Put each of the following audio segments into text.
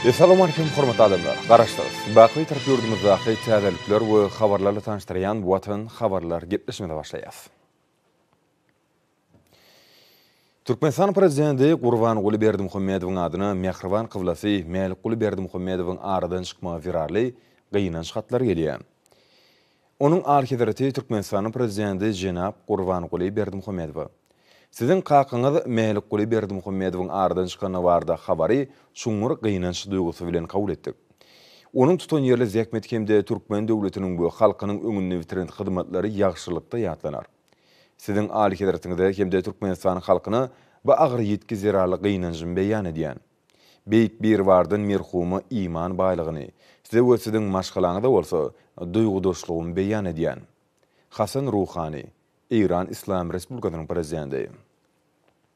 Essalam Aleýkum hormatly adamlar! Garaşsyz, baky Türk ýurdumyzdaky täzelikler we habarlarla tanyşdyrýan Watan habarlar gepleşigimize başlaýas. Türkmenistan Prezidenti Gurbanguly Berdimuhamedowyň adyna mähriban kyblasy Mälikguly Berdimuhamedowyň aradan çykmagy zerarly gynanç hatlary gelýär. Onuň Alyhezreti Türkmenistanyň Prezidenti jenap Gurbanguly Berdimuhamedowa, Siziň kakaňyz Mälikguly Berdimuhamedowyň aradan çykany barada habary çuňňur gynanç duýgusy bilen kabul etdik. Onuň tutanýerli zähmeti hem-de türkmen döwletiniň we halkynyň öňünde bitiren hyzmatlary ýagşylykda ýatlanar. Siziň Alyhezretiňize hem-de Türkmenistan halkyna bu agyr ýitgi zerarly gynanjymy beýan edýän. Beýik Biribardan merhuma iman baýlygyny, size we siziň maşgalaňyza bolsa duýgudaşlygymy beýan edýän. Hasan Ruhani, Eýran Yslam Respublikasynyň Prezidenti.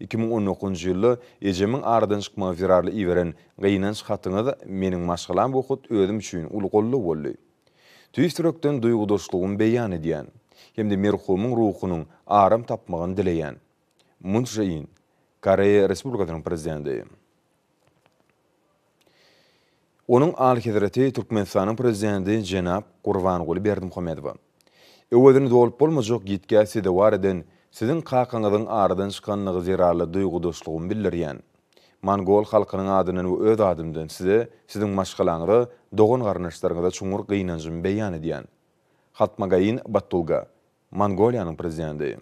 Iki müň on dokuzynjy ýylda ejemiň aradan çykmagy zerarly iberen gynanç hatyňyz meniň maşgalam we hut özüm üçin uly goldaw boldy. Tüýs ýürekden duýgudaşlygymy beýan edýän hem-de merhumyň ruhunyň aram tapmagyny dileýän. Mun Çže In, Koreýa Respublikasynyň Prezidenti. Onuň Alyhezreti Türkmenistanyň Prezidenti jenap Gurbanguly Berdimuhamedowa, Öwezini dolup bolmajak ýitgä sezewar eden Siziň kakaňyzyň aradan çykanlygy zerarly duýgudaşlygymy bildirýän. Mongol halkynyň adyndan we öz adymdan Size, Siziň maşgalaňyza, dogan-garyndaşlaryňyza çuňňur gynanjymy beýan edýän. Hatmagaýyn Battulga, Mongoliýanyň Prezidenti.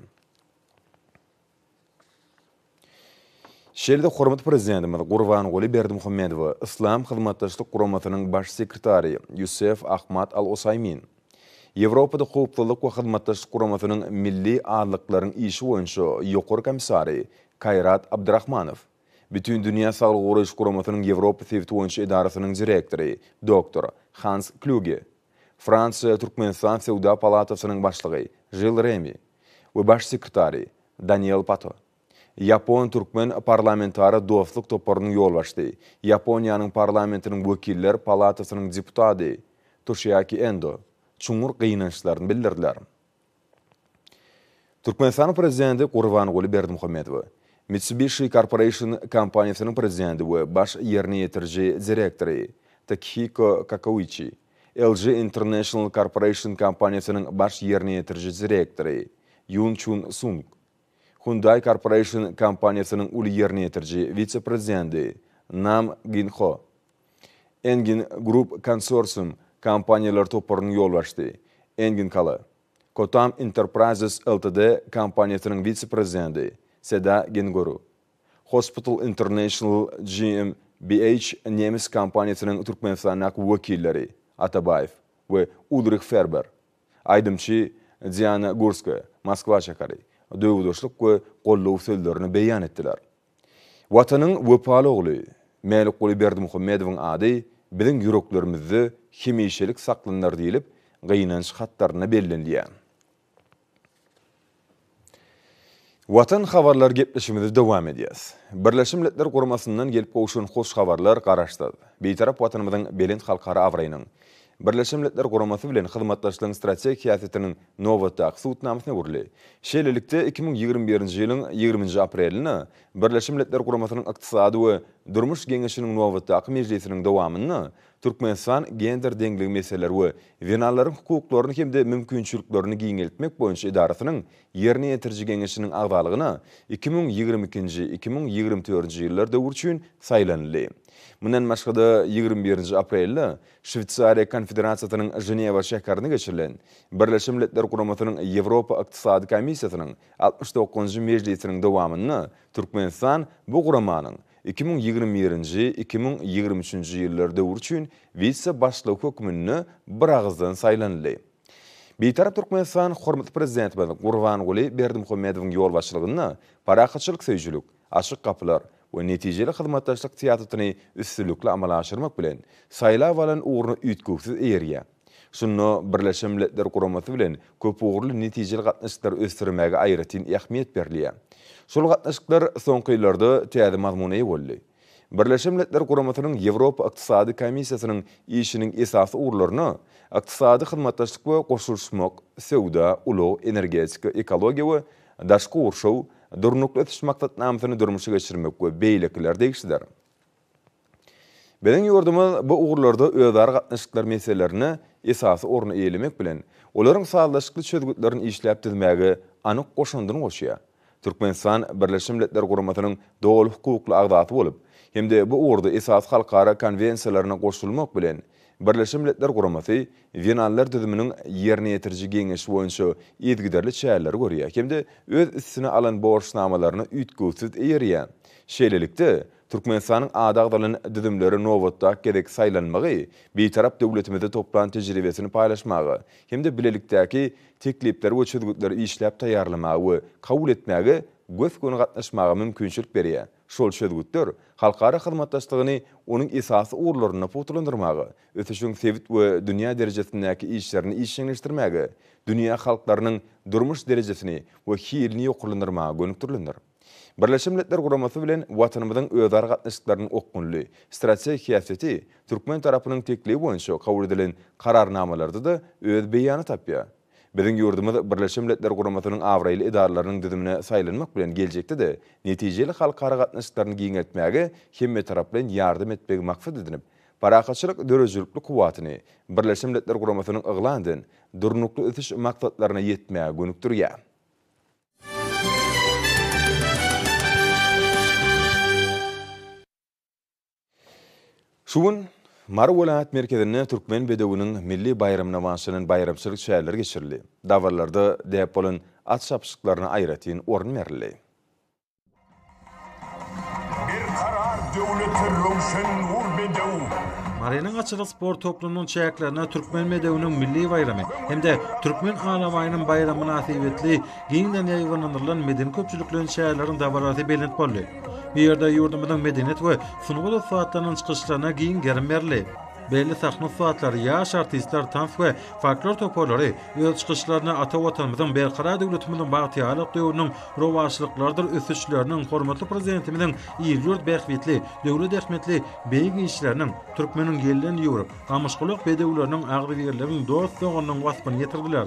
Şeýle-de hormatly Prezidentimiz Gurbanguly Berdimuhamedowa Yslam Hyzmatdaşlyk Guramasynyň Baş sekretary Ýusef Ahmad Al Osaýmin, Ýewropada Howpsuzlyk we Hyzmatdaşlyk Guramasynyň Milli azlyklaryň işi boýunça Ýokary komissary Kaýrat Abdrahmanow, Bütindünýä Saglygy Goraýyş Guramasynyň Ýewropa sebiti boýunça edarasynyň direktory doktor Hans Klýuge, Fransiýa-Türkmenistan Söwda palatasynyň başlygy Žil Remi we baş sekretary Daniel Pato, Ýapon-türkmen parlamentara dostluk toparynyň ýolbaşçy, Ýaponiýanyň parlamentiniň wekiller palatasynyň deputady Toshiaki Endo çuňňur gynançlaryny bildirdiler. Türkmenistanyň Prezidenti Gurbanguly Berdimuhamedowa, Mitsubishi Corporation kompaniýasynyň Prezidenti we Baş ýerine ýetiriji direktory Takihiko Kakouiçi, LG International Corporation kompaniýasynyň Baş ýerine ýetiriji direktory Ýun Çun Sung, Hyundai Corporation kompaniýasynyň uly ýerine ýetiriji wise-prezidenti Nam Gin Ho, Engin Group konsorsium kompaniýalar toparynyň ýolbaşçysy, Engin Kala, Kotam Enterprises Ltd kompaniýasynyň wise-prezidenti Seda Gengoru, Hospital International GmbH nemes kompaniýasynyň Türkmenistandaky wekilleri Atabaýew we Ulrih Ferber, aýdymçy Diana Gurska, Moskwa şäheri, döwürdeşlik we goldaw sözlerini beýan etdiler. Watanyň wepaly ogly Mälikguly Berdimuhamedowyň ady biziň ýüreklerimizde hemişelik saklanylar diýlip, gynanç hatlarynda bellenilýär. Watan habarlary gepleşigimizi dowam edýäs. Birleşen Milletler Guramasyndan gelip gowşan hoş habarlar Garaşsyz, Bitarap Watanymyzyň belent halkara abraýynyň, Birleşen Milletler Guramasy bilen hyzmatdaşlygyň strategik syýasetiniň nobatdaky subutnamasyna öwrüldi. Şeýlelikde, iki müň ýigrimi birinji ýylyň ýigriminji aprelinde Birleşen Milletler Guramasynyň Ykdysady we durmuş geňeşiniň nobatdaky mejlisiniň dowamynda Türkmenistan gender deňligi meseleleri we zenanlaryň hukuklaryny hem-de mümkinçiliklerini giňeltmek boýunça edarasynyň Ýerine ýetiriji geňeşiniň agzalygyna iki müň ýigrimi ikinji, iki müň ýigrimi dördünji ýyllar döwri üçin saýlanyldy. Mundan başga-da, ýigrimi birinji aprelde Şweýsariýa Konfederasiýasynyň Ženewa şäherinde geçirilen Birleşen Milletler Guramasynyň Ýewropa Ykdysady Komissiýasynyň altmyş dokuzynjy mejlisiniň dowamynda Türkmenistan bu guramanyň iki müň ýigrimi birinji, iki müň ýigrimi üçünji ýyllar döwri üçin wise-başlygy hökmünde biragyzdan saýlanyldy. Bitarap Türkmenistan hormatly Prezidentimiz Gurbanguly Berdimuhamedowyň ýolbaşçylygynda parahatçylyk söýüjilik, Açyk gapylar we netijeli hyzmatdaşlyk syýasatyny üstünlikli amala aşyrmak bilen, saýlap alan ugruna üýtgewsiz eýerýär. Şunda Birleşen Milletler Guramasy bilen köpugurly netijeli gatnaşyklary ösdürmäge aýratyn ähmiýet berilýär. Şol gatnaşyklar soňky ýyllarda täze mazmuna eýe boldy. Birleşen Milletler Guramasynyň Ýewropa Ykdysady Komissiýasynyň işiniň esasy ugurlaryna ykdysady hyzmatdaşlyk we goşulyşmak, söwda, ulag, energetika, ekologiýa we Daşky gurşaw, Durnukly ösüş maksatnamasyny durmuşa geçirmek we beýlekiler degişlidir. Biziň ýurdumyz bu ugurlarda özara gatnaşyklar meselelerine esasy orny eýelemek bilen, olaryň sazlaşykly çözgütlerini işläp düzmäge anyk goşandyny goşýar. Türkmenistan Birleşen Milletler Guramasynyň doly hukukly agzasy bolup hem-de bu ugurda esasy halkara konwensiýalaryna goşulmak bilen, Birleşen Milletler Guramasy Zenanlar düzüminiň Ýerine ýetiriji geňeşi boýunça yzygiderli çäreleri görýär hem-de öz üstüne alan borçnamalaryna üýtgewsiz eýerýär. Şeýlelikde, Türkmenistanyň ady agzalan düzümlere nobatdaky gezek saýlanmagy Bitarap döwletimizde toplan tejribesini paýlaşmaga hem-de bilelikdäki teklipleri we çözgütleri işläp taýýarlamaga we kabul etmäge gös-göni gatnaşmaga mümkinçilik berýär. Şol çözgütler halkara hyzmatdaşlygyny onuň esasy ugurlarynda pugtalandyrmaga, ösüşiň sebit we dünýä derejesindäki işlerini işjeňleşdirmäge, dünýä halklarynyň durmuş derejesini we hilini ýokarlandyrmaga gönükdirilendir. Birleşen Milletler Guramasy bilen Watanymyzyň özara gatnaşyklarynyň okgunly, strategik häsiýeti türkmen tarapynyň teklibi boýunça kabul edilen Kararnamalarda-da öz beýany tapýar. Biziň ýurdumyz Birleşen Milletler Guramasynyň abraýly edaralarynyň düzümine saýlanmak bilen geljekde-de netijeli halkara gatnaşyklaryny giňeltmäge hemmetaraplaýyn ýardam etmegi maksat edinip, parahatçylyk döredijilikli kuwwatyny Birleşen Milletler Guramasynyň yglan eden Durnukly ösüş maksatlaryna ýetmäge gönükdirýär. Şu gün Mary welaýat merkezinde Türkmen bedewiniň milli baýramyna bagyşlanan baýramçylyk çäreleri geçirildi. Dabaralarda däp bolan at çapyşyklaryna aýratyn orun berildi. Berkarar döwlete röwşen nur bedew. Marynyň atçylyk sport toplumynyň çäklerinde Türkmen bedewiniň milli baýramy hem-de Türkmen alabaýynyň baýramy mynasybetli Giňden ýaýbaňlandyrylan medeni-köpçülikleýin çäreleriň dabarasy belent boldy. Bu ýerde ýurdumyzyň medeniýet we sungat ussatlarynyň çykyşlaryna giň gerim berildi. Belli sahna ussatlary, ýaş artistler, tans we folklor toparlary öz çykyşlarynda ata Watanymyzyň, Berkarar döwletimiziň bagtyýarlyk döwrüniň rowaçlyklarydyr ösüşleriniň, hormatly Prezidentimiziň il-ýurt bähbitli, döwlet ähmiýetli beýik işleriniň, türkmeniň gelden ýüwrük, gamyşgulak bedewleriniň agzybirligiň, dost-doganlygyň waspyny ýetirdiler.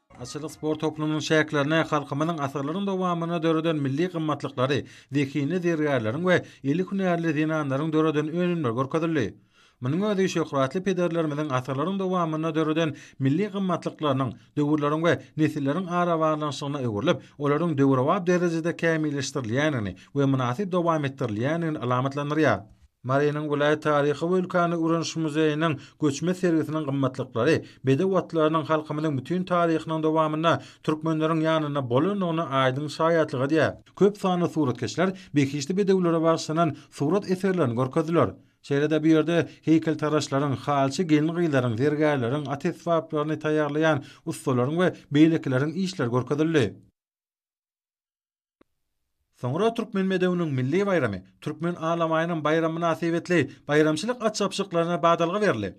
Atçylyk sport toplumynyň çäklerine halkymyzyň asyrlaryň dowamynda döreden milli gymmatlyklary, zehinli zergärleriň we eli hünärli zenanlaryň döreden önümleri görkezildi. Munuň özi şöhratly pederlerimiziň asyrlaryň dowamynda döreden milli gymmatlyklarynyň döwürleriň we nesilleriň arabaglanyşygyna öwrülip, olaryň döwrebap derejede kämilleşdirilýändigini we mynasyp dowam etdirilýändigini alamatlandyrýar. Marynyň welaýat taryhy we ülkäni öwreniş muzeýiniň göçme sergisiniň gymmatlyklary bedew atlarynyň halkymyzyň bütin taryhynyň dowamynda türkmenleriň ýanynda bolandygyna aýdyň şaýatlyk edýär. Köp sanly suratkeşler behişdi bedewlere bagyşlanan surat eserlerini görkezdiler. Şeýle-de bu ýerde heýkeltaraşlaryň, halçy gelin-gyzlaryň, zergärleriň, at esbaplaryny taýýarlaýan ussalaryň we beýlekileriň işleri görkezildi. Soňra Türkmen bedewiniň milli baýramy, Türkmen alamaýynyň baýramy mynasybetli baýramçylyk at çapyşyklaryna badalga berildi.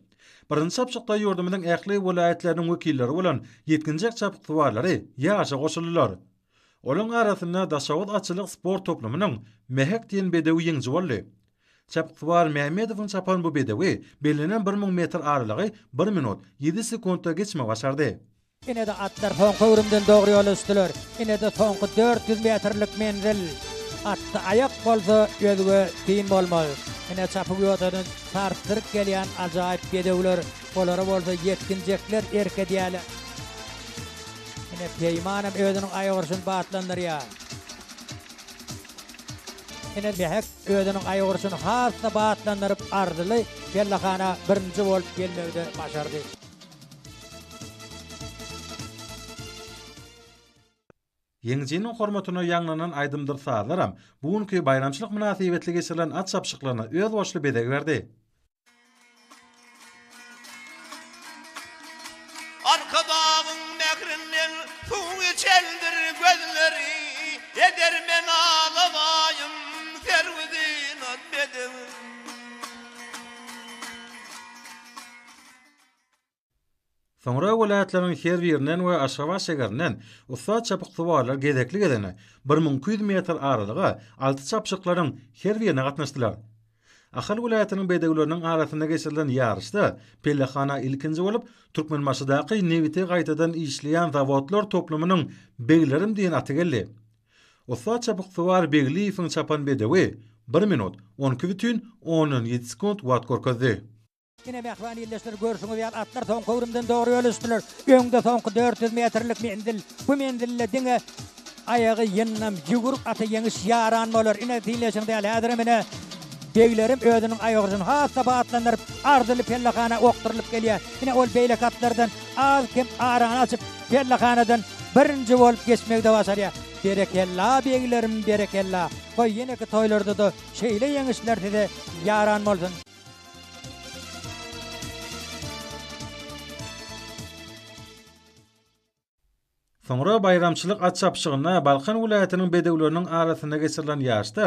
Birinji çapyşykda ýurdumyzyň ähli welaýatlarynyň wekilleri bolan ýetginjek çapyksuwarlary ýaryşa goşuldylar. Olaryň arasynda Daşoguz atçylyk sport toplumynyň Mähek diýen bedewi ýeňiji boldy. Çapyksuwar Mämmedowyň çapan bu bedewi bellenen bir müň metr aralygy bir minut, ýedi sekuntda geçmegi başardy. Ine-de atlar soňky öwrümden dogry ýola düşdüler. Ine-de soňky dört ýüz metrlik menzil. Atda aýak bolsa, özge syn bolmaz. Ine çapyk ýodadan sarsdyryp gelýän ajaýyp bedewler, olara bolsa ýetginjekler erk edýärler. Ine Peýman hem özüniň aýagurşuny batlandyrýar. Ine Mähek özüniň aýagurşuny has-da batlandyryp arzyly pellehana birinji bolup gelmegi-de başardy. Ýeňijiniň hormatyna ýaňlanan aýdymdyr sazlaram bu günki baýramçylyk mynasybetli geçirilen at çapyşyklaryna özboluşly bezeg berdi. Arkadagyň mährinden suw içendir gözleri, Edermen alabaýym, serwi zynat bedewim. Soňra welaýatlaryň her birinden we Aşgabat şäherinden ussat çapyksuwarlar gezekli-gezegine bir müň iki ýüz metr aralyga alty çapyşyklaryň her birine gatnaşdylar. Ahal welaýatynyň bedewleriniň arasynda geçirilen ýaryşda pellehana ilkinji bolup Türkmenbaşydaky nebiti gaýtadan işleýän zawodlar toplumynyň Beglerim diýen aty geldi. Ussat çapyksuwar Begliýewiň çapan bedewi bir minut, on iki bütin ondan ýedi sekunt wagt görkezdi. Ine, mähriban ildeşler, görşüňiz ýaly, atlar soňky öwrümden dogry ýol düşdüler. Öňde soňky dört ýüz metrlik menzil. Bu menzilde diňe aýagy ýyndam ýüwrük ata ýeňiş ýaran bolar. Ine, diňleýşiň däli, häzirem ine, beglerim özüniň aýagujyny has-da batlandyryp, arzyly pellehana okdurylyp gelýär. Ine, ol beýleki atlardan az-kem arany açyp, pellehanadan birinji bolup geçmegi-de başarýar. Berekella, beglerim, berekella! Goý, ýeneki toýlarda-da şeýle ýeňişler size ýaran bolsun! Soňra baýramçylyk at çapyşygyna Balkan welaýatynyň bedewleriniň arasynda geçirilen ýaryşda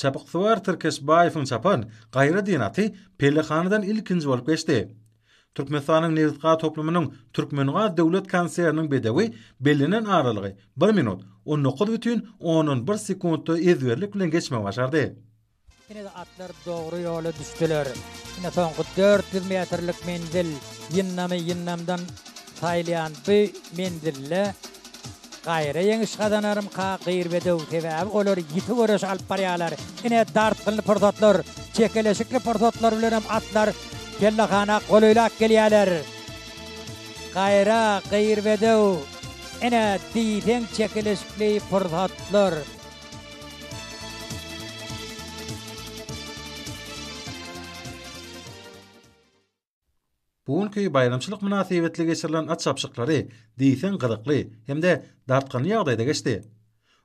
çapyksuwar Tirkesbaýewiň çapan Gaýra diýen aty pellehanadan ilkinji bolup geçdi. Türkmenistanyň Nebitgaz toplumynyň Türkmengaz döwlet konserniniň bedewi bellenen aralygy bir minut, on dokuz bütin ondan bir sekundda ezberlik bilen geçmegi başardy. Ine-de atlar dogry ýola düşdüler. Ine soňky dört ýüz metrlik menzil. Ýyndamy ýyndamdan saýylýan bu menzilde gaýra ýeňiş gazanarymka gyr bedew, sebäbi olar ýiti göreş alyp barýarlar. Ine dartgynly pursatlar, çekeleşikli pursatlar bilenem atlar kellehana golaýlap gelýärler. Gaýra gyr bedew, ine diýseň çekeleşikli pursatlar. Bu günki baýramçylyk mynasybetli geçirilen at çapyşyklary diýseň gyzykly hem-de dartgynly ýagdaýda geçdi.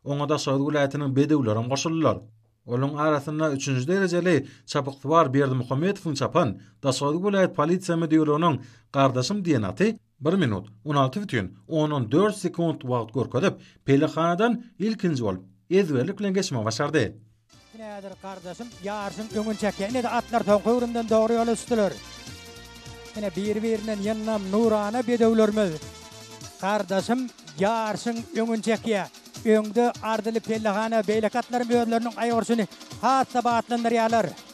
Oňa Daşoguz welaýatynyň bedewlerem goşuldylar. Olaryň arasynda üçünji derejeli çapyksuwar Berdimuhamedowyň çapan Daşoguz welaýat polisiýa müdirliginiň Gardaşym diýen aty Bir minut on alty bütin ondan dört sekunt wagt görkezip, pelehanadan ilkinji bolup, ezberlik bilen geçmegi başardy. Nädir gardaşym ýaryşyň öňüni çekýär. Ine-de atlar soňky öwrümden dogry ýola düşdüler. Ine bir-birinden ýyndam nurana bedewlerimiz. Gardaşym ýaryşyň öňüni çekýär. Öňde arzyly pellehana, beýleki atlaram özleriniň aýagurşuny has-da batlandyrýarlar.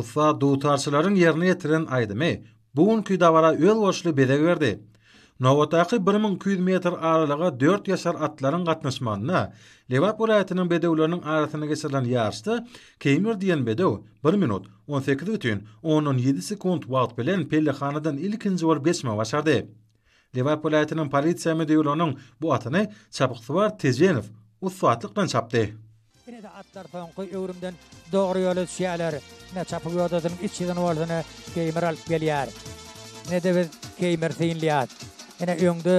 Ussat dutarçylaryň ýerine ýetiren aýdymy bu günki dabara özboluşly bezeg berdi. Nobatdaky bir müň iki ýüz metr aralyga dört ýaşar atlaryň gatnaşmagynda Lebap welaýatynyň bedewleriniň arasynda geçirilen ýaryşda Keýmir diýen bedew bir minut, on sekiz bütin ondan ýedi sekunt wagt bilen pellehanadan ilkinji bolup geçmegi başardy. Lebap welaýatynyň polisiýa müdirliginiň bu atyny Çapyksuwar Tejenow ussatlyk bilen çapdy. Ine-de atlar soňky öwrümden dogry ýola düşýärler. Ine, çapyk ýodasynyň iç ýygyny bolsa ine Keýmir alyp gelýär. Ine-de biz Keýmiri synlaýas. Ine öňde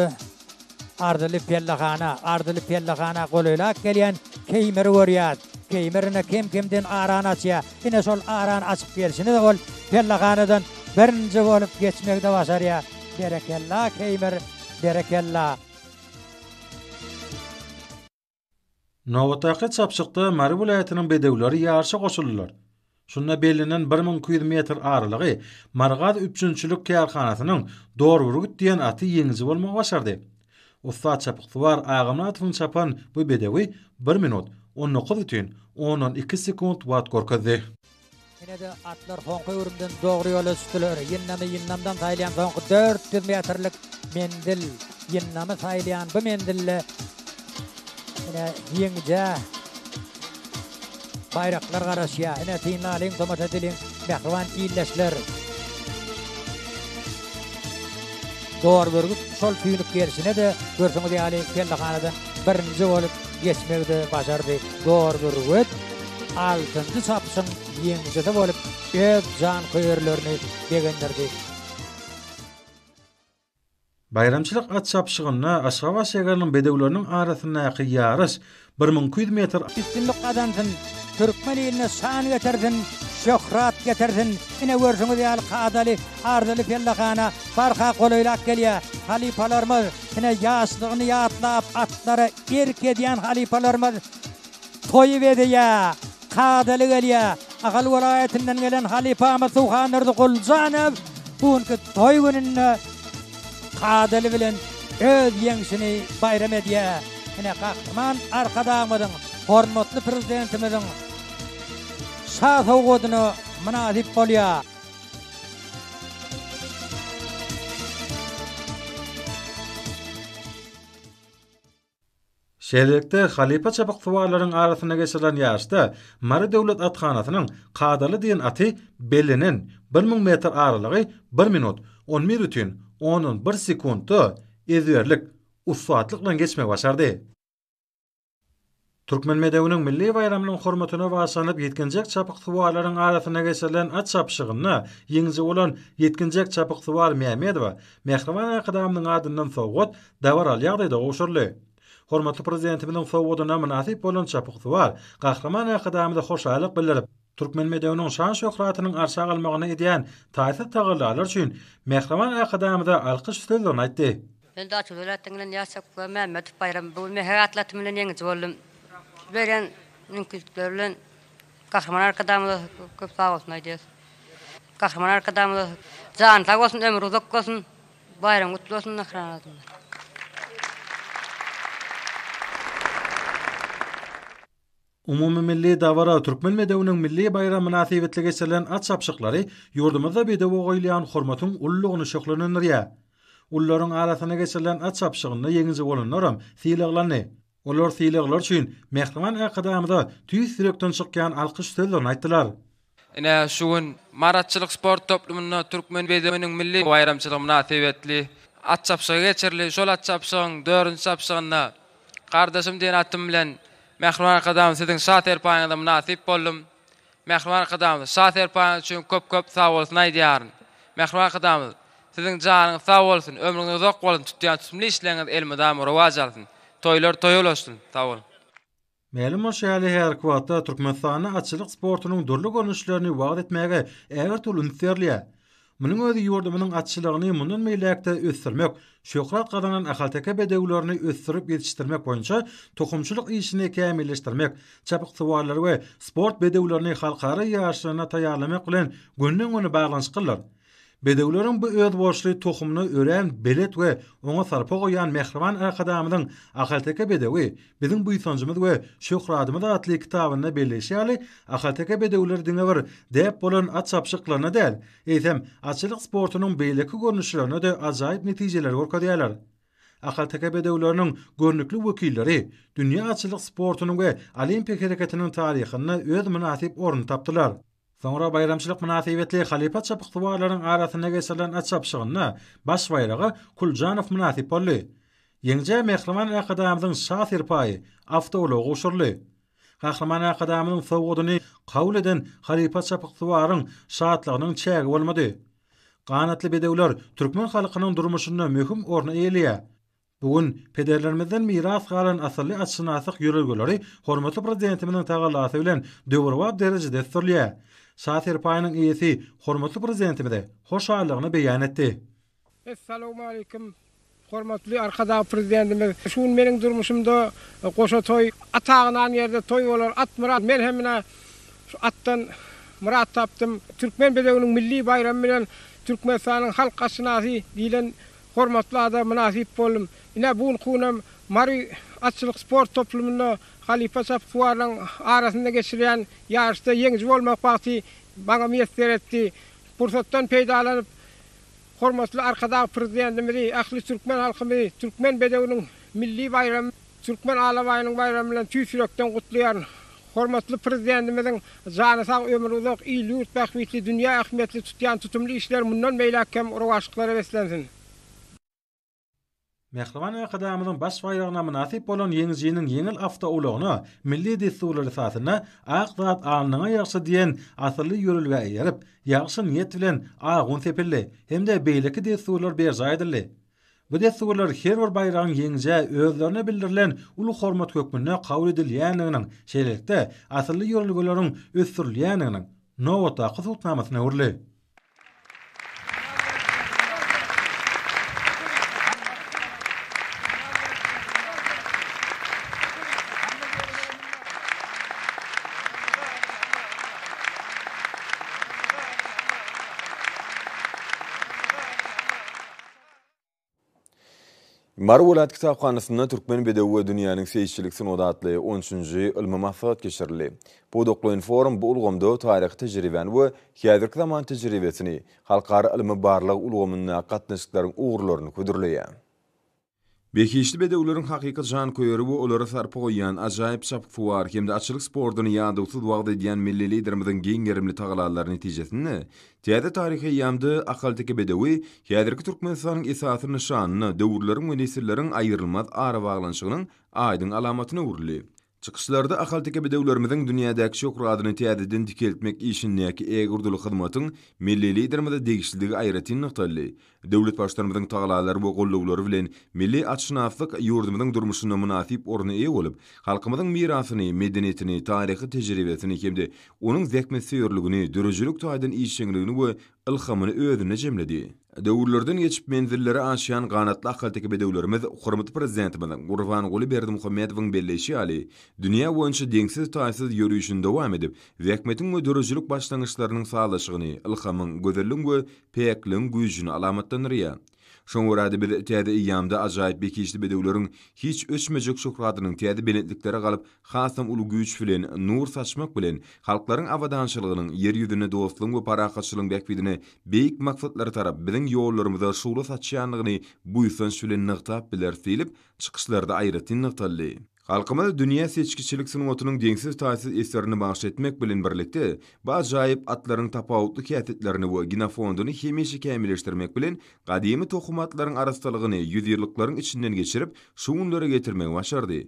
arzyly pellehana, arzyly pellehana golaýlap gelýän Keýmiri görýäs. Keýmir ine kem-kemden arany açýar. Ine şol arany açyp gelşini-de ol pellehanadan birinji bolup geçmegi-de başarýa. Berekella Keýmir, berekella! Nobatdaky çapyşykda Mary welaýatynyň bedewleri ýaryşa goşuldylar. Şunda bellenen bir müň iki ýüz metr aralygy Marygaz üpjünçilik kärhanasynyň Dorburgut diýen aty ýeňiji bolmagy başardy. Ussat çapyksuwar Agamyradowyň çapan bu bedewi bir minut, on dokuz bütin ondan iki sekunt wagt görkezdi. Ine-de, atlar soňky öwrümden dogry ýola düşdüler. Ýyndamy Ýyndamdan saýylýan soňky dört ýüz metrlik menzil. Ýyndamy saýylýan bu menzilde ine ýeňijä. Baýraklar garaşýar. Ine, synly alyň, tomaşa edeliň, mähriban ildeşler! Dor bürgüt şol tüýnük gerşine-de, görşüňiz ýaly, pellehanadan birinji bolup geçmegi-de başardy. Dor bürgüt altynjy çapyşyň ýeňijisi bolup, öz janköýerlerini begendirdi. Baýramçylyk at çapyşygynda Aşgabat şägeriniň bedewleriniň arasyndaky ýaryş bir müň iki ýüz metr Üstünlik gazansyn, türkmen iline şan getirsin, şöhrat getirsin! Ine görşüňiz ýaly kadaly, arzyly pellehana barha golaýlap gelýär. Halypalarymyz, ine ýaşlygyny ýatlap, atlara erk edýän halypalarymyz Toýy bezýä, kadaly gelýä. Ahal welaýatyndan gelen halypamyz Suhandurdy Guljanow bu günki toý gününde kadaly bilen öz ýeňşini baýram edýär. Ine, Gahryman Arkadagymyzyň, hormatly Prezidentimiziň Şa sowgadyna mynasyp bolýar. Şeýlelikde, halypa çabyksuwarlaryň arasynda geçirilen ýaryşda Mary döwlet athanasynyň Kadaly diýen aty bellenen bir müň metr aralygy bir minut, on bir bütin ondan bir sekuntda ezberlik, ussatlyk bilen geçmegi başardy. Türkmen bedewiniň milli baýramynyň hormatyna bagyşlanyp ýetginjek çapyksuwarlaryň arasynda geçirilen at çapyşygynda ýeňiji bolan ýetginjek çapyksuwar Mämmedowa Mähriban Arkadagymyzyň adyndan sowgat Dabaraly ýagdaýda gowşuryldy. Hormatly Prezidentimiziň sowgadyna mynasyp bolan çapyksuwar Gahryman Arkadagymyza hoşallyk bildirip, türkmen bedewiniň şan-şöhratynyň arşa galmagyna edýän taýsyz tagallalary üçin Mähriban Arkadagymyza alkyş sözlerini aýtdy. Men Daçoz welaýatynyň geleni ýaş çapyksuwar Mämmedow Baýram. Bu gün mähek atly atym bilen ýeňiji boldum. Siz berýän mümkinçilikler bilen Gahryman Arkadagymyza köp sagbolsun aýdýarys. Gahryman Arkadagymyza jany sag bolsun, ömri uzak bolsun! Baýram gutly bolsun Mähriban Atamyz. Umumymilli dabara Türkmen bedewiniň milli baýramy mynasybetli geçirilen at çapyşyklary ýurdumyzda bedewe goýulýan hormatyň ululygyny şöhlelendirýär. Ulularyň arasynda geçirilen at çapyşygynda ýeňiji bolanlaram sylaglandy. Olar sylaglar üçin mähriban Arkadagymyza tüýs ýürekden çykýan alkyş sözlerini aýtdylar. Ine, şu gün Maratçylyk sport toplumynda türkmen bedewiniň milli baýramçylygy mynasybetli at çapyşygy geçirildi. Şol at çapyşygyň dördünji çapyşygynda Gardaşym diýen atym bilen mähriban Arkadagymyz siziň şa-serpaýyňyza mynasyp boldum. Mähriban Arkadagymyz şa serpaňyz üçin köp köp sag bolsun aýdýaryn. Mähriban Arkadagymyz Siziň janyňyz sag bolsun, ömrüňiz uzak bolsun, tutýan tutumly işleriňiz elmydama rowaç alsyn, toýlar toýa ulaşsyn. Sag boluň. Mälim bolşy ýaly, häzirki wagtda Türkmenistanda atçylyk sportunyň dürli görnüşlerini wagyz etmäge ägirt uly üns berilýär. Munuň özi ýurdumyzyň atçylygyny mundan beýläk-de ösdürmek, şöhrat gazanan ahalteke bedewlerini ösdürip ýetişdirmek boýunça tohumçylyk işini kämilleşdirmek, çapyksuwarlary we sport bedewlerini halkara ýaryşlaryna taýýarlamak bilen gönden-göni baglanyşyklydyr. Bedewleriň bu özboluşly tohumyna örän belet we oňa sarpa goýýan mähriban Arkadagymyzyň ahalteke bedewi Biziň buýsanjymyz we şöhradymyz atly kitabynda belleýşi ýaly, ahalteke bedewleri diňe bir däp bolan at çapyşyklaryna däl, eýsem, atçylyk sportunyň beýleki görnüşlerine-de ajaýyp netijeleri görkezýärler. Ahalteke bedewleriniň görnükli wekilleri dünýä atçylyk sportunyň we olimpiýa hereketiniň taryhynda öz mynasyp ornuny tapdylar. Soňra baýramçylyk mynasybetli halypa çapyksuwarlaryň arasynda geçirilen at çapyşygynda baş baýraga Kuljanow mynasyp boldy. Ýeňijä Mähriban Arkadagymyzyň Şa serpaýy, awtoulagy gowşuryldy. Gahryman Arkadagymyzyň sowgadyny kabul eden halypa çapyksuwaryň şatlygynyň çägi bolmady. Ganatly bedewler türkmen halkynyň durmuşynda möhüm orny eýeleýär. Bu gün pederlerimizden miras galan asylly atşynaslyk ýörelgeleri hormatly Prezidentimiziň tagallasy bilen döwrebap derejede ösdürilýär. Şa serpaýynyň eýesi hormatly Prezidentimize hoşallygyny beýan etdi. Essalawmaleýkim, hormatly Arkadag Prezidentimiz! Şu gün meniň durmuşymda goşa toý, at agynan ýerde toý bolar, at myrat. Men hem ine şu atdan myrat tapdym. Türkmen bedewiniň milli baýramy bilen Türkmenistanyň halk atşynasy diýlen Hormatly ada mynasyp boldum. Ine, bu gün kunam Mary atçylyk sport toplumynda halypa çapyksuwarlaryň arasynda geçirilýän ýaryşda ýeňiji bolmak bagty maňa miýesser etdi. Pursatdan peýdalanyp, hormatly Arkadag Prezidentimizi, ähli türkmen halkymyzy Türkmen bedewiniň milli baýramy, Türkmen alabaýynyň baýramy bilen tüýs ýürekden gutlaýaryn. Hormatly Prezidentimiziň jany sag, ömri uzak, il-ýurt bähbitli, dünýä ähmiýetli tutýan tutumly işleri mundan beýläk hem rowaçlyklara beslensin! Mähriban Arkadagymyzyň Baş baýragyna mynasyp bolan ýeňijiniň ýeňil awtoulagyna milli dessurlar esasynda Ak zat alnyňa ýagşy diýen asylly ýörelgä eýerip, ýagşy niýet bilen agun sepildi hem-de beýleki dessurlar berjaý edildi. Bu dessurlar her bir baýragyň ýeňijä özlerine bildirilen uly hormat hökmünde kabul edilýändiginiň, şeýlelikde, asylly ýörelgeleriň ösdürilýändiginiň nobatdaky subutnamasyna öwrüldi. Mary welaýat kitaphanasynda Türkmen bedewi we dünýäniň seýisçilik sungaty atly on üçünji ylmy maslahat geçirildi. Pudaklaýyn-forum bu ulgamda taryhy tejribäni we häzirki zaman tejribesini, halkara ylmy-barlag ulgamyndaky gatnaşyklaryň ugurlaryny hödürleýär. Behişdi bedewleriň hakyky janköýeri we olara sarpa goýýan, ajaýyp çapyksuwar hem-de atçylyk sportuny ýadawsyz wagyz edýän milli Liderimiziň giň gerimli tagalalary netijesinde, täze taryhy eýýamda ahalteke bedewi häzirki Türkmenistanyň esasy nyşanyna, döwürleriň we nesilleriň aýrylmaz arabaglanyşygynyň aýdyň alamatyna öwrüldi. Çykyşlarda ahalteke bedewlerimiziň dünýädäki şöhratyny täzeden dikeltmek işindäki ägirduly hyzmatyň milli Liderimize degişlidigi aýratyn nygtaldy. Döwlet Baştutanymyzyň tagallalary we goldawlary bilen milli atşynaslyk ýurdumyzyň durmuşynda mynasyp orna eýe bolup, halkymyzyň mirasyny, medeniýetini, taryhy tejribesini hem-de onuň zähmetsöýerligini, döredijilik taýdan işjeňligini we ylhamyny özünde jemledi. Döwürlerden geçip menzilleri aşýan ganatly ahalteke bedewlerimiz hormatly Prezidentimiziň Gurbanguly Berdimuhamedowyň belleýşi ýaly, dünýä boýunça deňsiz-taýsyz ýörişini dowam edip, zähmetiň we döredijilik başlangyçlarynyň sazlaşygyny, ylhamyň, gözelligiň we päkligiň güýjüni alamatlandyrýar. Şoňa görä-de biz täze eýýamda ajaýyp bekişli bedewleriň hiç öçmejek şöhratynyň täze belentliklere galyp, hasam uly güýç bilen nur saçmak bilen, halklaryň abadançylygynyň, ýer ýüzünde dostlugyň we parahatçylygyň bähbidine beýik maksatlara tarap biziň ýollarymyza şugla saçýandygyny buýsanç bilen nygtap bileris diýlip, çykyşlarda aýratyn nygtaldy. Halkymyza dünýä seçgiçilik sungatynyň deňsiz-taýsyz eserini bagyş etmek bilen birlikde, bu ajaýyp atlaryň tapawutly häsiýetlerini we genofonduny hemişe kämilleşdirmek bilen, gadymy tohum atlaryň arassalygyny ýüzýyllyklaryň içinden geçirip, şu günlere getirmegi başardy.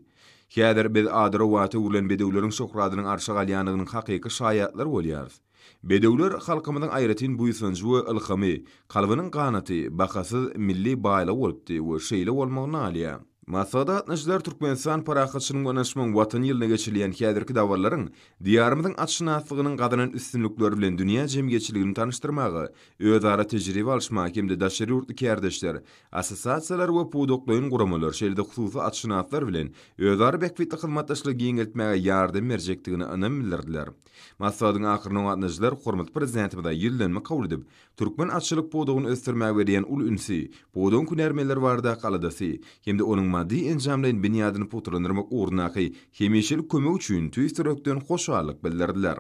Häzir biz ady-rowata öwrülen bedewleriň şöhratynyň arşa galýandygynyň hakyky şaýatlary bolýarys. Bedewler halkymyzyň aýratyn buýsanjy we ylhamy, kalbynyň ganaty, bahasyz milli baýlygy bolupdy we şeýle bolmagy nalýar. Maslahat gatnaşyjylar Türkmenistan parahatçylygyň we ynaşmagyň Watany ýylynda geçirilýän häzirki dabararyň Diýarymyzyň atşynaslygynyň gazanan üstünlikleri bilen dünýä jemgyýetçiligini tanyşdyrmaga, özara tejribe alyşmaga hem-de daşary ýurtly kärdeşler, assosiasiýalar we pudaklaýyn guramalar, şeýle-de hususy atşynaslar bilen özara bähbitli hyzmatdaşlygy giňeltmäge ýardam berjekdigine ynam bildirdiler. Maslahatyň ahyrynda gatnaşyjylar hormatly Prezidentimize ýüzlenme kabul edip, türkmen atçylyk pudagyny ösdürmäge berýän uly ünsi, pudagyň hünärmenleri baradaky aladasy hem-de onuň maddy-enjamlaýyn binýadyny pugtalandyrmak ugrundaky hemişelik kömegi üçin tüýs ýürekden hoşallyk bildirdiler.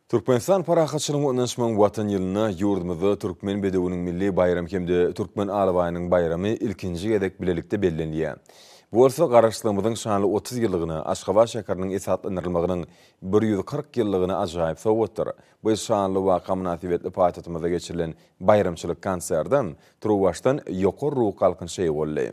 Türkmenistan parahatçylygyň we ynanyşmagyň Watan ýylynda ýurdumyzda Türkmen bedewiniň milli baýramy hem-de Türkmen alabaýynyň baýramy ilkinji gezek bilelikde bellenilýär. Bu bolsa Garaşsyzlygymyzyň şanly otuz ýyllygyna, Aşgabat şäheriniň esaslandyrylmagynyň bir ýüz kyrk ýyllygyna ajaýyp sowgatdyr. Bu şanly waka mynasybetli paýtagtymyzda geçirilen baýramçylyk konserde turuwbaşdan ýokary ruh galkynyş eýe boldy.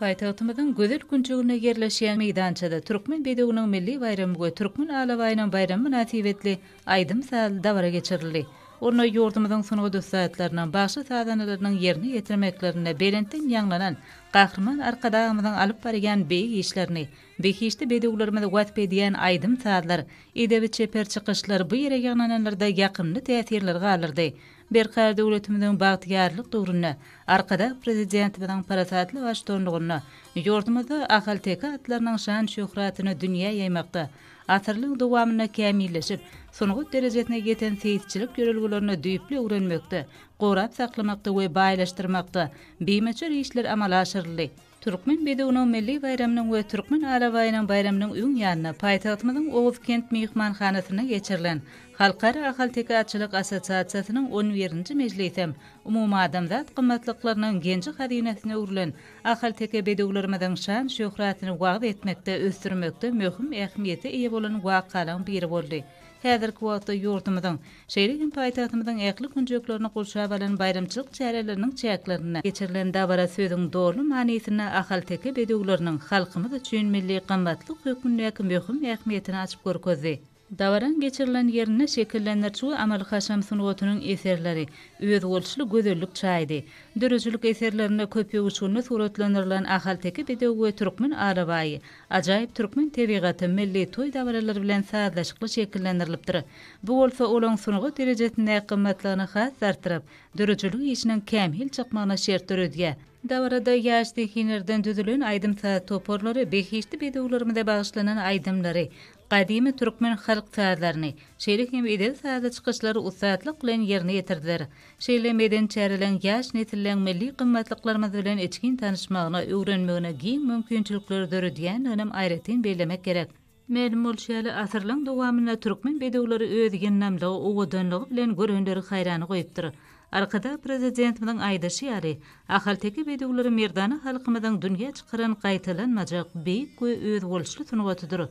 Paýtagtymyzyň gözel künjeginde ýerleşýän meýdançada Türkmen bedewiniň milli baýramy we Türkmen alabaýynyň baýramy mynasybetli aýdym-sazly dabara geçirildi. Onda ýurdumyzyň sungat ussatlarynyň, bagşy-sazandalarynyň ýerine ýetirmeklerinde belentden ýaňlanan Gahryman Arkadagymyzyň alyp barýan beýik işlerini, behişdi bedewlerimizi wasp edýän aýdym-sazlar, edebi-çeper çykyşlar bu ýere ýygnananlarda ýakymly täsirleri galdyrdy. Berkarar döwletimiziň bagtyýarlyk döwründe, Arkadag Prezidentimiziň parasatly baştutanlygynda ýurdumyzda ahalteke atlarynyň şan-şöhratyny dünýä ýaýmakda, asyrlaryň dowamynda kämilleşip, sungat derejesine ýeten seýisçilik ýörelgelerini düýpli öwrenmekde, gorap saklamakda we baýlaşdyrmakda bimöçber işler amala aşyryldy. Türkmen bedewiniň milli baýramynyň we Türkmen alabaýynyň baýramynyň öň ýanynda paýtagtymyzyň Oguzkent myhmanhanasynda geçirilen Halkara ahalteke atçylyk assosiasiýasynyň on birinji mejlisem umumadamzat gymmatlyklarynyň genji-hazynasyna öwrülen Ahalteke bedewlerimiziň şan-şöhratyny wagyz etmekde, ösdürmekde möhüm ähmiýete eýe bolan wakalaryň biri boldy. Häzirki wagtda ýurdumyzyň, şeýle hem paýtagtymyzyň ähli künjeklerini gurşap alan baýramçylyk çäreleriniň çäklerinde geçirilen dabara sözüň doly manysynda ahalteke bedewleriniň halkymyz üçin milli gymmatlyk hökmündäki möhüm ähmiýetini açyp görkezdi. Dabaraň geçirilen ýerinde şekillendiriş we amaly-haşam sungatynyň eserleri özboluşly gözellik çaýdy. Döredijilik eserlerinde köp öwüşgünli suratlandyrylan ahalteke bedewi we türkmen alabaýy, ajaýyp türkmen tebigaty milli toý dabaralary bilen sazlaşykly şekillendirilipdir. Bu bolsa olaň sungat derejesindäki gymmatlygyny has-da artdyryp, döredijilik işiniň kämil çykmagyna şert döredýär. Dabarada ýaş zehinlerden düzülen aýdym-saz toparlary behişdi bedewlerimize bagyşlanan aýdymlary, Gadymy türkmen halk sazlaryny, şeýle hem edil sazly çykyşlary ussatlyk bilen ýerine ýetirdiler. Şeýle medeni çäreleň ýaş nesilleň milli gymmatlyklarymyz bilen içgin tanyşmagyna, öwrenmegine giň mümkinçilikleri döredýändiginem aýratyn bellemek gerek. Mälim bolşy ýaly, asyrlaň dowamynda türkmen bedewleri öz ýyndamlygy, owadanlygy bilen görenleri haýrana goýupdyr. Arkadag Prezidentimiziň aýdyşy ýaly, ahalteke bedewleri merdana halkymyzyň dünýä çykaran gaýtalanmajak beýik we özboluşly sungatydyr.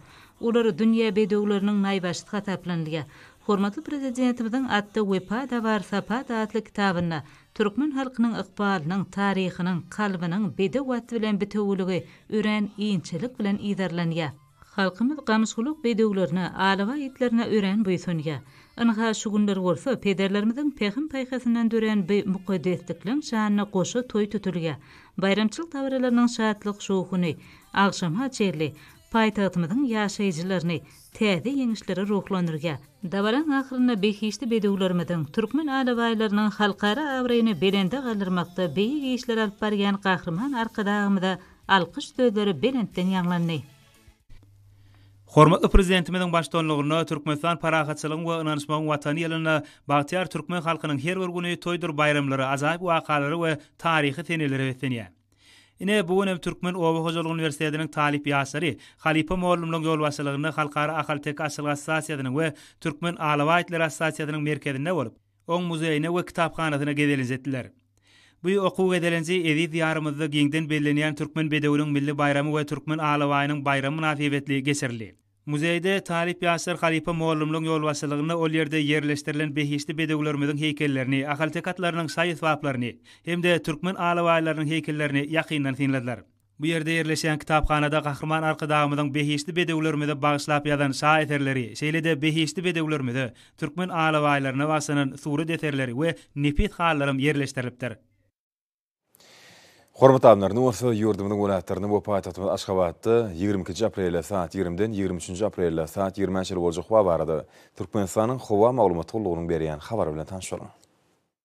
Olar dünýä bedewleriniň naýbaşysy hasaplanylýar. Hormatly Prezidentimiziň Atda wepa-da bar, sapa-da atly kitabynda türkmen halkynyň ykbalynyň, taryhynyň, kalbynyň bedew at bilen bitewüligi örän inçelik bilen yzarlanýar. Halkymyz gamyşgulak bedewlerine, alabaý itlerine örän buýsanýar. Ynha, şu günler bolsa pederlerimiziň pähim-paýhasyndan dörän bi mukaddeslikleň şanyna goşa toý tutulýar. Baýramçylyk dabaralarynyň şatlyk-şowhuny agşama çenli paýtagtymyzyň ýaşaýjylaryny täze ýeňişlere ruhlandyrýar. Dabaraň ahyrynda behişdi bedewlerimiziň, türkmen alabaýlarynyň halkara abraýyny belende galdyrmakda beýik işler alyp barýan Gahryman Arkadagymyza Alkyş sözleri belentden ýaňlandy. Hormatly Prezidentimiziň baştutanlygynda Türkmenistan Parahatçylygyň we ynanyşmagyň Watany ýylynda bagtyýar türkmen halkynyň her bir güni toýdur baýramlara, ajaýyp wakalara we taryhy senelere beslenýär. Ine, bu gün hem Türkmen oba hojalygy uniwersitetiniň talyp ýaşlary halypa mugallymlaryň ýolbaşçylygynda Halkara ahalteke açylgaç stasiýasynyň we Türkmen alabaýtlar assosiasiýasynyň merkezinde bolup, Oň muzeýine we kitaphanasyna gezelenç etdiler. Bu okuw gezelenji eziz Diýarymyzda giňden bellenýän Türkmen bedewiniň milli baýramy we Türkmen alabaýynyň baýramy mynasybetli geçirildi. Muzeýde talyp ýaşlar halypa mugallymlaryň ýolbaşçylygynda ol ýerde ýerleşdirilen behişdi bedewlerimiziň heýkellerini, ahalteke atlarynyň şaý-esbaplaryny hem-de türkmen alabaýlarynyň heýkellerini ýakyndan synladylar. Bu ýerde ýerleşýän kitaphanada Gahryman Arkadagymyzyň behişdi bedewlerimize bagyşlap ýazan şa eserleri, şeýle-de behişdi bedewlerimize, türkmen alabaýlaryna bagşlanan surat eserleri we nepis halylaram ýerleşdirilipdir. Hormatly alymlar, indi bolsa ýurdumyzyň welaýatlarynda we paýtagtymyz Aşgabatda ýigrimi ikinji aprelde sagat ýigrimiden ýigrimi üçünji aprelde sagat ýigrimä çenli boljak howa barada Türkmenistanyň Howa maglumat gullugynyň berýän habary bilen tanyşalyň.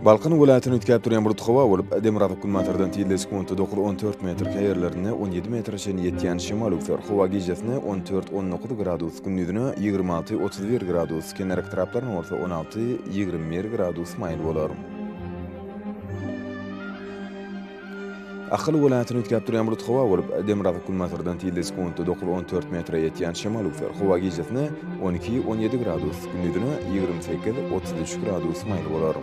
Balkan welaýatyny üýtgäp durýan bulut howa bolup, demirgazyk-günbatardan tizligi sekuntda dokuz, on dört metr, käýerlerinde on ýedi metre çenli ýetýän şemal öwser. Howa gijesine on dört, on dokuz gradus, gündizine ýigrimi alty, otuz bir gradus, kenarýaka taraplaryna bolsa on alty, ýigrimi bir gradus maýyl bolar. Ahal welaýatyny üýtgäp durýan bulut howa bolup, demirgazyk-günbatardan tizligi sekuntda dokuz-on dört metre ýetýän şemal üflär. Howa gijesine on iki-on ýedi gradus, gündizine ýigrimi sekiz-otuz üç gradus maýyl bolar.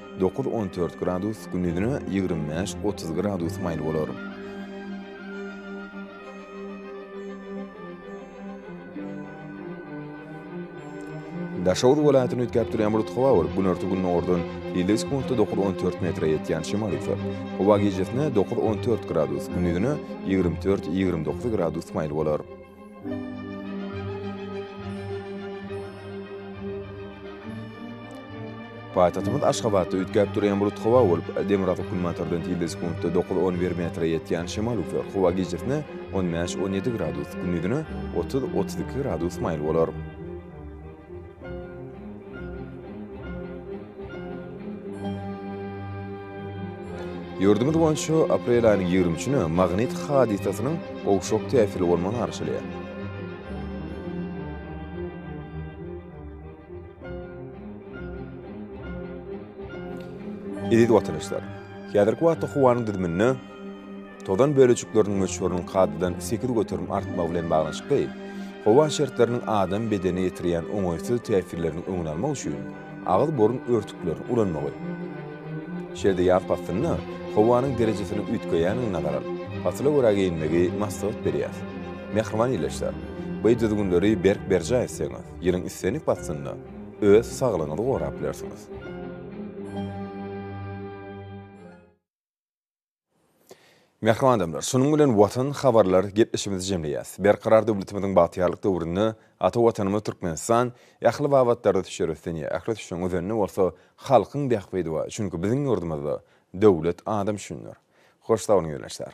Dokuz-on dört gradus, gündizine ýigrimi bäş-otuz gradus maýyl bolar. Daşoguz welaýatyny üýtgäp durýan bulutly howa bolup, günorta-gündogardan ýedi sekuntda dokuz-on dört metre ýetýän şemal eser. Howa gijesine dokuz-on dört gradus, gündizine ýigrimi dört-ýigrimi dokuz gradus maýyl bolar. Paýtagtymyz Aşgabatda üýtgäp durýan bulut howa bolup, demirgazyk günbatardan tilde sekuntda dokuz, on bir metre ýetýän şemal üfler. Howa gijasine on bäş, on ýedi gradus, gündizine otuz, otuz iki gradus maýyl bolar. Ýurdumyz boýunça aprel aýynyň ýigrimi üçüne magnit hadysasynyň gowşak täsirli bolmagy garaşylýar. Eziz watandaşlar, häzirki wagtda howanyň düzüminde Tozan bölejikleriniň möçberiniň kadadan sekiz göterim artmagy bilen baglanyşykly, howa şertleriniň adam bedenine ýetirýän oňaýsyz täsirleriniň öňüni almak üçin agyz-burun örtüklerini ulanmagy. Şeýle-de ýaz paslynda howanyň derejesiniň üýtgeýändigini nazara alyp, pasyla görä geýinmegi maslahat berýär. Mähriban ildeşler, bu düzgünleri berk berjaý etseňiz, ýylyň islendik paslynda öz saglygyňyzy gorap bilersiňiz. Mähriban adamlar, şunuň bilen Watan habarlar gepleşigimizi jemleýäs. Berkarar döwletimiziň bagtyýarlyk döwründe ata Watanymyz Türkmenistan ähli babatlarda düşer ösdünýär. Ähli düşen özende bolsa halkyň bähbidi bar. Çünki biziň ýurdumyzda döwlet adam üçindir. Hoş sag boluň ýolbaşçylar.